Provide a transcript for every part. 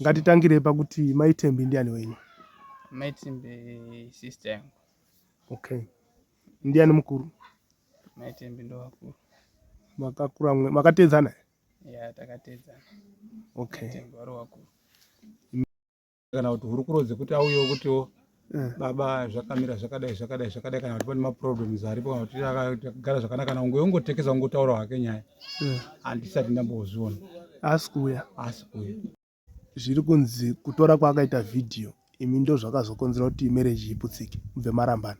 Ngatitangire pakuti mai Thembi ndiani wenyu? Mai Thembi sister yangu. Okay. Ndiani mukuru? Mai Thembi ndo vakuru. Makakura mwe makateedzana? Yeah, takateedzana. Okay. Mai Thembi vari vakuru. kana kuti hurukuro dzekuti auyewo kutiwo eh. baba zvakamira zvakadai zvakadai zvakadai kana kuti pane maproblems aripo kana kuti akagara zvakanaka kana unge ungotekesa ungotaura hake nyaya eh. handisati ndambozviona haasi kuuya haasi kuuya zviri kunzi kutora kwaakaita vhidhiyo imi ndo zvakazokonzera kuti mereji iputsike mubve marambana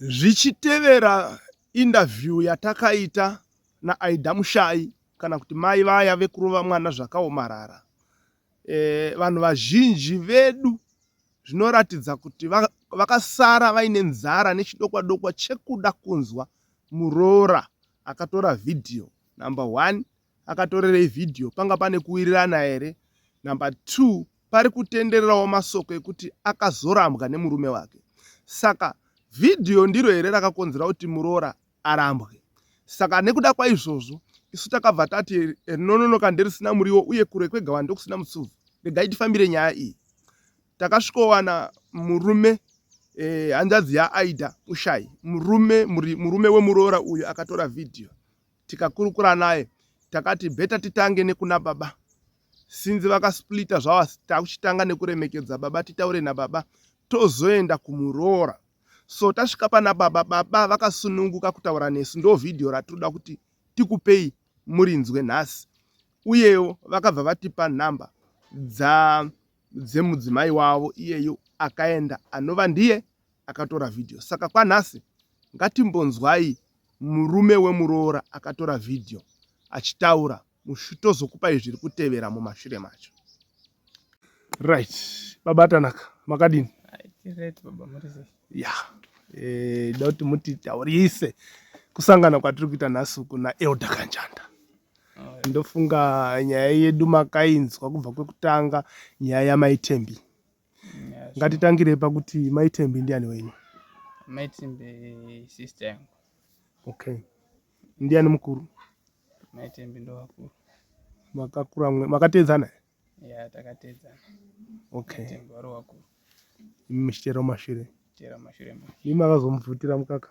Zvichitevera indavhiyu yatakaita naAida Mushayi kana kuti mai vaya vekurova mwana zvakaomarara, eh, vanhu vazhinji vedu zvinoratidza kuti vakasara vaine nzara nechidokwa dokwa chekuda kunzwa muroora akatora vhidhiyo number one akatorerei vhidhiyo panga pane kuwirirana here number two pari kutendererawo masoko ekuti akazorambwa nemurume wake saka vhidhiyo ndiro here rakakonzera kuti muroora arambwe saka nekuda kwaizvozvo isu takabva tati rinononoka nderisina muriwo uye kure kwegawa ndokusina mutsuvu regai tifambire nyaya iyi takasvikowana murume eh, hanzvadzi yaaida mushayi murume murume wemuroora uyu akatora vhidhiyo tikakurukura naye takati beta titange nekuna baba sinzi vakasplita zvavo asi takuchitanga nekuremekedza baba titaure nababa tozoenda kumuroora so tasvika pana baba baba vakasununguka kutaura nesu ndo vhidhiyo ratinoda kuti tikupei murinzwe nhasi uyewo vakabva vatipa nhamba dza dzemudzimai wavo iyeyu akaenda anova ndiye akatora vhidhiyo saka kwanhasi ngatimbonzwai murume wemuroora akatora vhidhiyo achitaura muchitozokupai zviri kutevera mumashure macho right baba tanaka makadini ya eh, ndokuti mutitaurise kusangana kwatiri kuita nhasi uku naelder kanjanda ndofunga nyaya yedu makainzwa kubva kwekutanga nyaya yamaitembi ngatitangire pakuti maitembi ndiani wenyu maitembi sister yangu okay ndiani mukuru maitembi ndovakuru makakura mwe makateedzana ya takateedzana okay vari wakuru imi muchitera mashure tera mashure imi makazomubvutira mukaka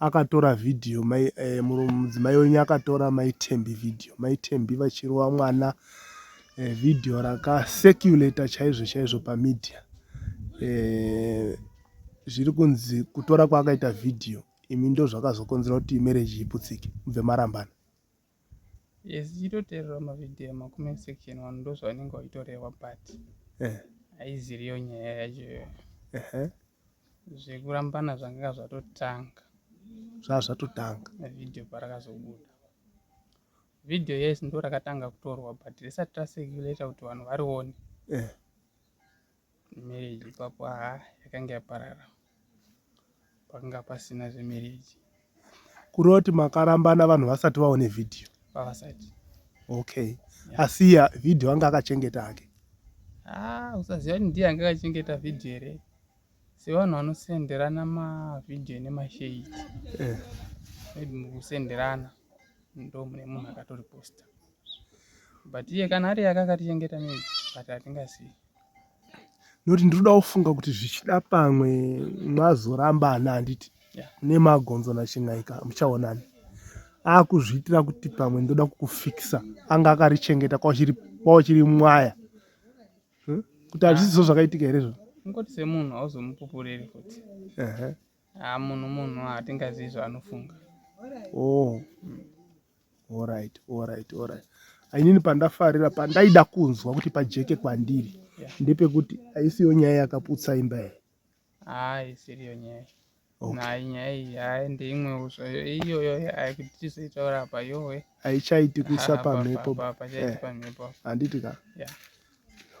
Akatora video mai mudzimai wenyu akatora mai Thembi video mai Thembi vachirova mwana eh, video raka circulator chaizvo chaizvo pamedia eh, zviri kunzi kutora kwaakaita video imi ndozvakazokonzera kuti marriage iputsike mubve marambana Yes, ichitoteerera mavideo emakume section wani ndozvavanenge vachitoreva but eh. haiziriyo nyaya yacho iyoyo zvekurambana zvanganga zvatotanga zvaa zvatotanga video parakazobuda video yes ndo rakatanga kutorwa but risati racirculata kuti vanhu varione eh. Marriage ipapo haa ah, yakanga yaparara. Pakanga pasina zvemarriage. Kureva kuti makarambana vanhu vasati vaone video? Vavasati. Okay. Yeah. Asi ya video anga akachengeta hake. Ah, usaziva kuti ndiye anga akachengeta video here? Sevanhu vanosenderana mavideo nemashade. Eh. Maybe mukusenderana ndo mune munhu akatoriposta. But iye kana ari yake akatichengeta maybe but hatingazivi. noti ndinoda kufunga kuti zvichida pamwe mwazorambana handiti nemagonzo nachingaika muchaonani akuzviitira kuti pamwe ndoda kukufikisa anga akarichengeta kwauchiri mwaya hm? kuti hazvisizo zvakaitika here zvo kungoti semunhu hauzomupupuriri futi Ah, munhu munhu hatingazivi ah, zvaanofunga. Oh. Mm. All right, all right, all right. Ainini pandafarira pandaida kunzwa kuti pajeke kwandiri yeah. ndepekuti aisiyo nyaya yakaputsa imba here? Ah, isiriyo nyaya. Okay. Nayi nyaya iyi hayi ndeimwewo zvayo iyoyo hayi kuti tizoitaura apa yowe. Haichaiti kuisa pamhepo. Eh. Handiti ka? Yeah.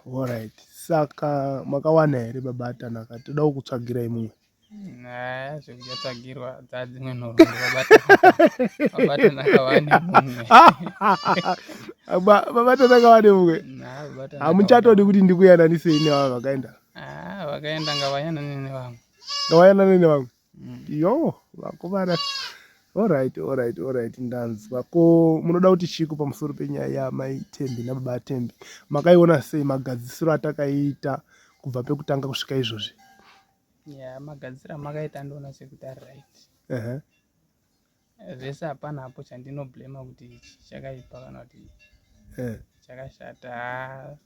All right. Saka makawana here baba Tanaka? Todawo kutsvagirai mumwe. Nah, zvekudya tsvagirwa dzadzimwe nhoroondo vabatanaka vane mumwe vabatanaka vane mumwe hamuchatodi kuti ndikuyananisei nevamwe vakaenda ah, vakaenda ngavayanane nevamwe ngavayanane nevamwe mm. yo vakomana orit orit orit ndanzwa ko munoda kuti chiko pamusoro penyaya yamai tembi nababa atembi makaiona sei magadzisiro atakaita kubva pekutanga kusvika izvozvi Yeah, magadzira makaita ndoona sekuti ari right. Uh -huh. Vese hapana hapo chandino blame kuti chakaipa kana kuti eh. chakashata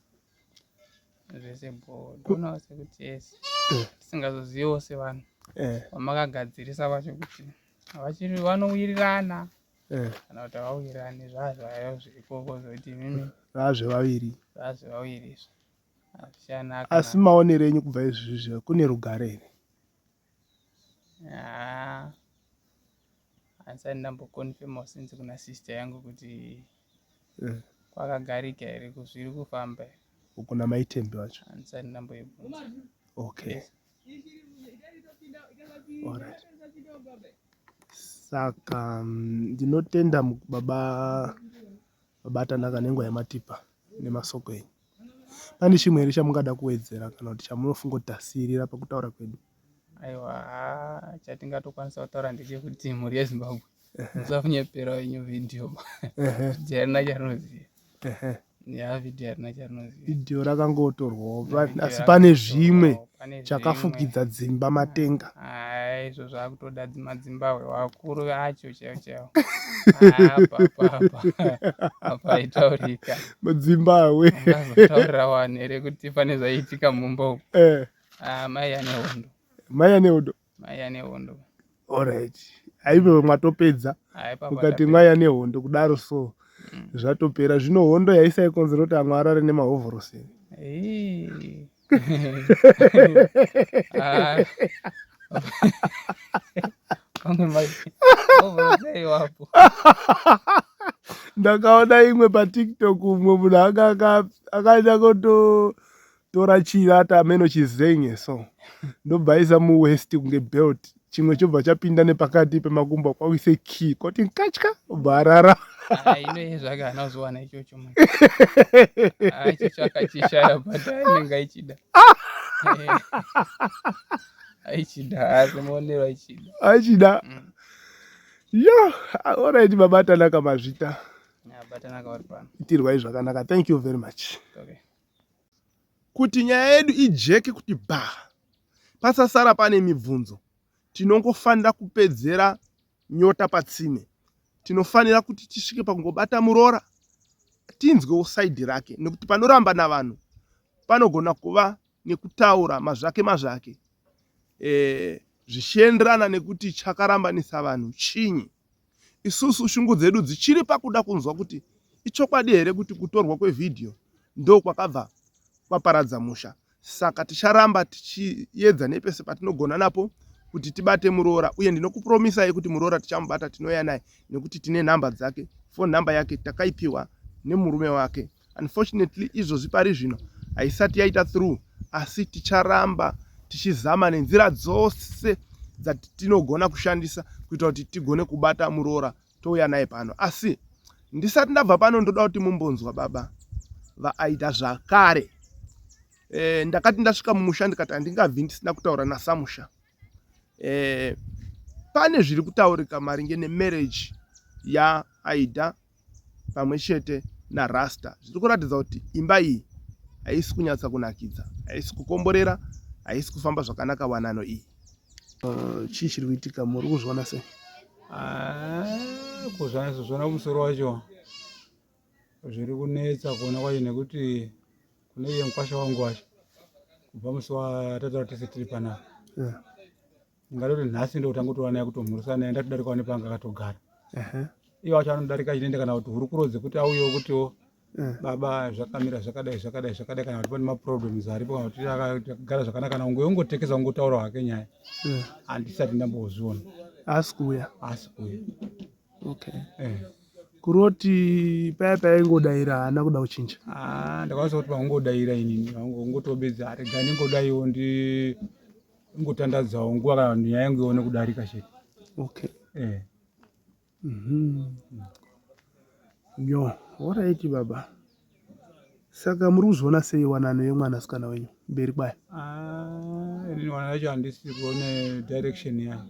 zvese bho ndoona sekuti yes eh. tisingazozivewo sevanhu eh. vamakagadzirisa vacho kuti havachiri vanowirirana kana kuti havawirirani zvazvayo zvirikoko zvokuti mimi zvazvevaviri zvazvevaviri izvo asi maonero enyu kubva izvizvi kune rugare here handisati ndamboconfirma since kuna sister yangu kuti eh. kwakagarika here kuzviri kufamba here kuna maitembi vacho handisati ndamboibvunza okay yes. Alright. Saka mm, ndinotenda baba Mabatana akanengwa ematipa nemasoko enyu. Pane chimwe here chamungada kuwedzera kana kuti chamunofunga kuti tasiirira pakutaura kwedu? Aiwa, haa, chatingatokwanisa kutaura ndechekuti mhuri yeZimbabwe musakunyepera wenyu vhidhiyo vhidhiyo harina charinoziva ya vhidhiyo harina charinoziva vhidhiyo rakangotorwawo asi pane zvimwe chakafukidza dzimba matenga izvo zvakutoda madzimbahwe wakuru acho chaiwo chaiwo apaitaurika madzimbahwe azotaurira wani here kuti pane zvaiitika mumba uku eh. ah, mai ane hondo mai ane hondo maiya nehondo orit aive mwatopedza ukati mwaiya nehondo kudaro so mm. zvatopera zvino hondo yaisaikonzera kuti amwe arare nemahovhorosi ah. ndakaona imwe patiktok umwe munhu anga akaita kuto tora chivata ameno chizenge so ndobva isa muwest kunge belt chimwe chobva chapinda nepakati pemakumbo kwakuise key koti nkatya obva arara aichida mm. yo orit babatanaka mazvita itirwai zvakanaka thank you very much okay. Kuti nyaya yedu ijeke kuti bhaa pasasara pane mibvunzo, tinongofanira kupedzera nyota patsime. Tinofanira kuti tisvike pakungobata muroora tinzwewo saidhi rake nekuti panoramba navanhu panogona kuva nekutaura mazvake mazvake e, zvichienderana nekuti chakarambanisa vanhu chinyi. Isusu shungu dzedu dzichiri pakuda kunzwa kuti ichokwadi here kuti kutorwa kwevhidhiyo ndo kwakabva kwaparadza musha. Saka ticharamba tichiyedza nepese patinogona napo kuti tibate muroora uye ndinokupromisai kuti muroora tichamubata tinouya naye nekuti tine nhamba dzake. Phone number yake takaipiwa nemurume wake. unfortunately izvozvi pari zvino haisati yaita through asi ticharamba tichizama nenzira dzose dzatinogona kushandisa kuita kuti tigone kubata muroora touya naye pano asi ndisati ndabva pano ndoda kuti mumbonzwa baba vaaida zvakare e, ndakati ndasvika mumusha ndikati handingabvi ndisina kutaura nasamusha e, pane zviri kutaurika maringe nemarriage yaaida pamwe chete narasta zviri kuratidza kuti imba iyi haisi kunyatsa kunakidza haisi kukomborera haisi kufamba zvakanaka wanano iyi uh, chii chiri kuitika muri kuzviona sei ah, kuzvanaizvozvona kumusoro wacho zviri kunetsa kuona kwacho nekuti kune iye mukwasha wangu wacho kubva musi watataura tese tiri panapa ndingatoti nhasi ndokutanga kutoona yakutomhurisa naye ndatodarikawo nepanga akatogara iye wacho anodarika chinoenda kana kuti hurukuro dzekuti auyewo kutiwo eh. baba zvakamira zvakadai zvakadai zvakadai kana kuti pane maproblems aripo kana kuti akagara zvakanaka kana unge ungotekesa ungotaura hake nyaya eh. handisati ndambozviona haasi kuuya haasi kuuya okay eh. kuroti paya paya ingodaira haana kuda kuchinja ah, ndakwanisa kuti vangodaira inini vangotobedza aregani ngodaiwo ndi ingotandadzawo nguva kana vanhu nyaya yangu ione kudarika chete okay eh mhm yo alright baba saka muri kuzoona sei wanano yemwana sikana wenyu mberi kwaya ah, ini wana yacho handisi kuone direction yayo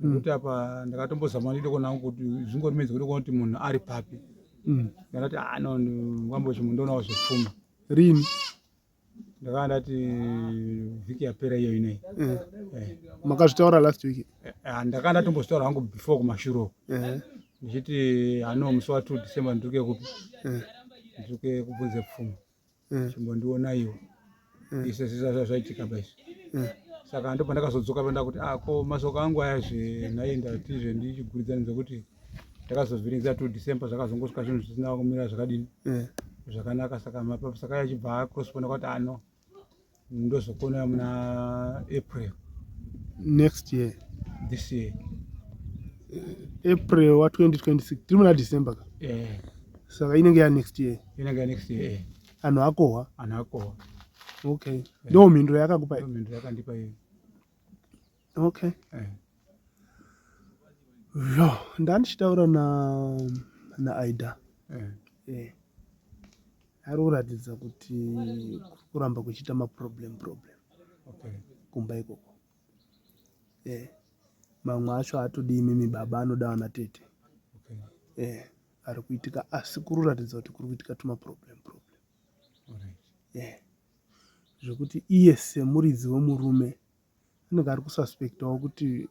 mm. kuti apa ndakatombozama ndide kuona hangu kuti zvingori midzi kuti kuona kuti munhu ari papi mm. ndakati ano ah, wambochimundonawo zvepfuma rini ndakanga ndati vhiki yapera iyo inei eh. eh. makazvitaura last week eh, eh, ndakanga ndatombozvitaura hangu before kumashuro ndichiti hano musi wa two december ndiri kekupi ndiri kekubvunze pfuma chimbondionaiwo ise zvisazva zvaitika baizvi saka ndo pandakazodzoka panda kuti ako ah, masoko angu aya zve nhayi ndati zve ndichiguridzani zvekuti takazovhiringiza to december zvakazongosvika zvinhu zvisina kumira zvakadini eh. zvakanaka saka mapapa saka achibva acrospona kwati ano ah, ndozokona muna april next year this year eh, april wa 2026 tiri muna december ka eh. saka inenge ya next year inenge ya next year anhu akohwa anhu akohwa okay ndo mhinduro yakakupa mhinduro yakandipa iyo okay eh. yo ndandichitaura na naaida eh. eh. ari kuratidza kuti kuramba kuchiita maproblem problem okay. kumba ikoko eh. mamwe acho atodi imimi baba anoda vana tete okay. eh. ari kuitika asi kuri kuratidza kuti kuri kuitika tumaproblem problem right. eh. zvekuti iye semuridzi wemurume Anenge ari kususpectawo kuti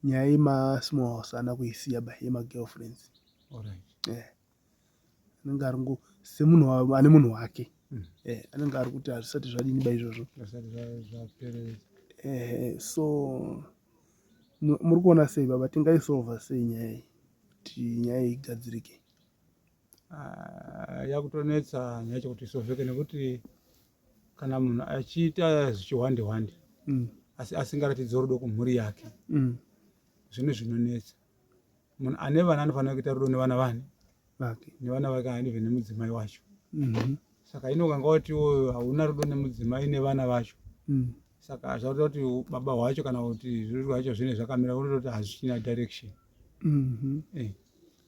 nyaya yema small house haana kuisiya by yema girlfriends. Alright. Eh. Anenge ari ngo semunhu wa- ane munhu wake. Mm. Eh, anenge ari kuti hazvisati zvadini ba izvozvo. Zvasati zva- zvaperera. Eh, so mu- muri kuona sei baba tingaisolva sei nyaya iyi kuti nyaya iyi igadzirike? Ah, yakutonetsa nyaya chekuti isovheke nekuti kana munhu achiita zvichihwande hwande mm. asi asingaratidzi rudo kumhuri yake mm. zvine zvinonetsa munhu ane vana anofanira kuita rudo nevana vani vake nevana vake anive nemudzimai wacho mm-hmm. saka inokanga wati iwoyo hauna rudo nemudzimai nevana vacho mm. saka hazvauta kuti baba hwacho kana kuti zviruru zvacho zvine zvakamira unotokuti hazvichina direction mm-hmm. eh.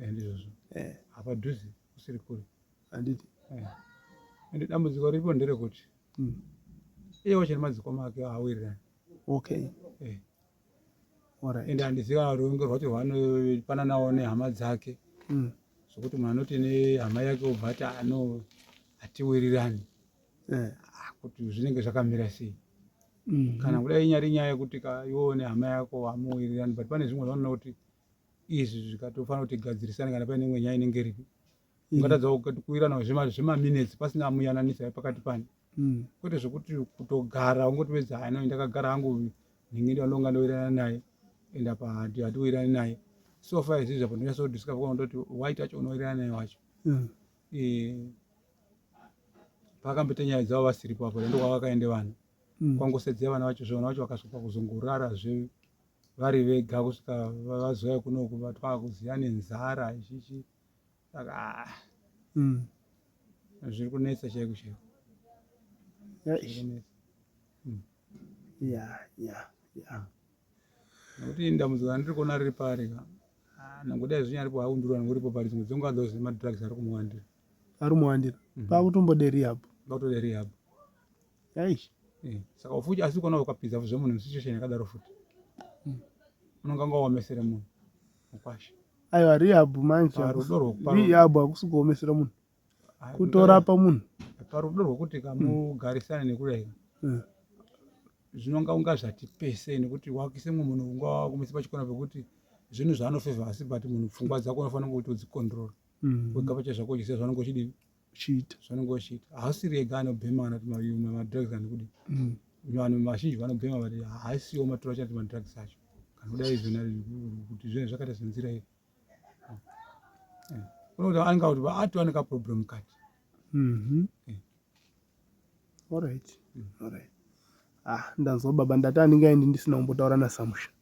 Eh, ndizvozvo eh. apa dhuzi usiri kure handiti eh. ende dambudziko riripo nderekuti hmm. iye wacho nemadziko make awirirani okay ende handiziva kuti unge rwacho rwanopana nawo nehama dzake hmm. zvokuti munhu anoti nehama yake obva ati ano hatiwirirani ah, kuti zvinenge zvakamira sei hmm. kana kudai inyari nyaya yekuti ka iwoo nehama yako hamuwirirani but pane zvimwe zvanoona kuti izvi zvikatofanira kuti gadzirisane kana paine imwe nyaya inenge iripo mm. ungatadza kuirana zvemaminutes pasina amuyananisa pakati pani mm. kwete zvekuti kutogara ungoti wedza hano ndakagara hangu nhingi ndandonga ndoirana naye and apa hatiwirani naye so far izvi zvapo ndinyatsodiscuss kona ndoti white acho unoirana naye wacho mm. eh, pakamboita nyaya dzavo vasiripo apo ndokwavakaende vanhu kwangosedzea vana vacho zvevana vacho vakasvika kuzongorara zve vari vega kusvika vazouya kunoku vatwakuziva nenzara ichichi saka ah, mm. zviri kunetsa chaiko chaiko mm. nokuti ndambudziko randiri kuona riri pari ka ah, nangodai zvinyaripo haundurwa nangoripo pari dzimwe dzonguva those madrugs ari kumuwandira ari muwandira mm-hmm. pakutombode rehab pakutoda rehab Eish. Eh, saka futi asi kuona ukapinza vuzve munhu situation yakadaro futi hmm. unonge anga waomesere munhu mukwasha aiwa rihabhu manje rudo rwokurihabhu hakusi kuomesera munhu kutorapa munhu parudo rwokuti kamugarisane hmm. nekudai hmm. zvinonga unga zvati pese nekuti wakise mumwe munhu unga wakumisa pachikona pekuti zvinhu zvaanofeva asi but munhu pfungwa dzako unofanira kuti udzikondirora wega pacha zvako uchisiya zvaunenge uchidii uchiita zvaunenge uchiita hausiri ega anobhema kana kuti mayuma madrugs kana kudi mm. vanhu vazhinji vanobhema vati haisiwo maturo achati madrugs acho kana kuda izvona kuti zvinenge zvakaita senzira iyo eh. unokuti anenge kuti ati wane kaproblem kati mhm. eh. allright mm. allright ah ndanzwa baba ndati anenge aindi ndisina kumbotaura nasamusha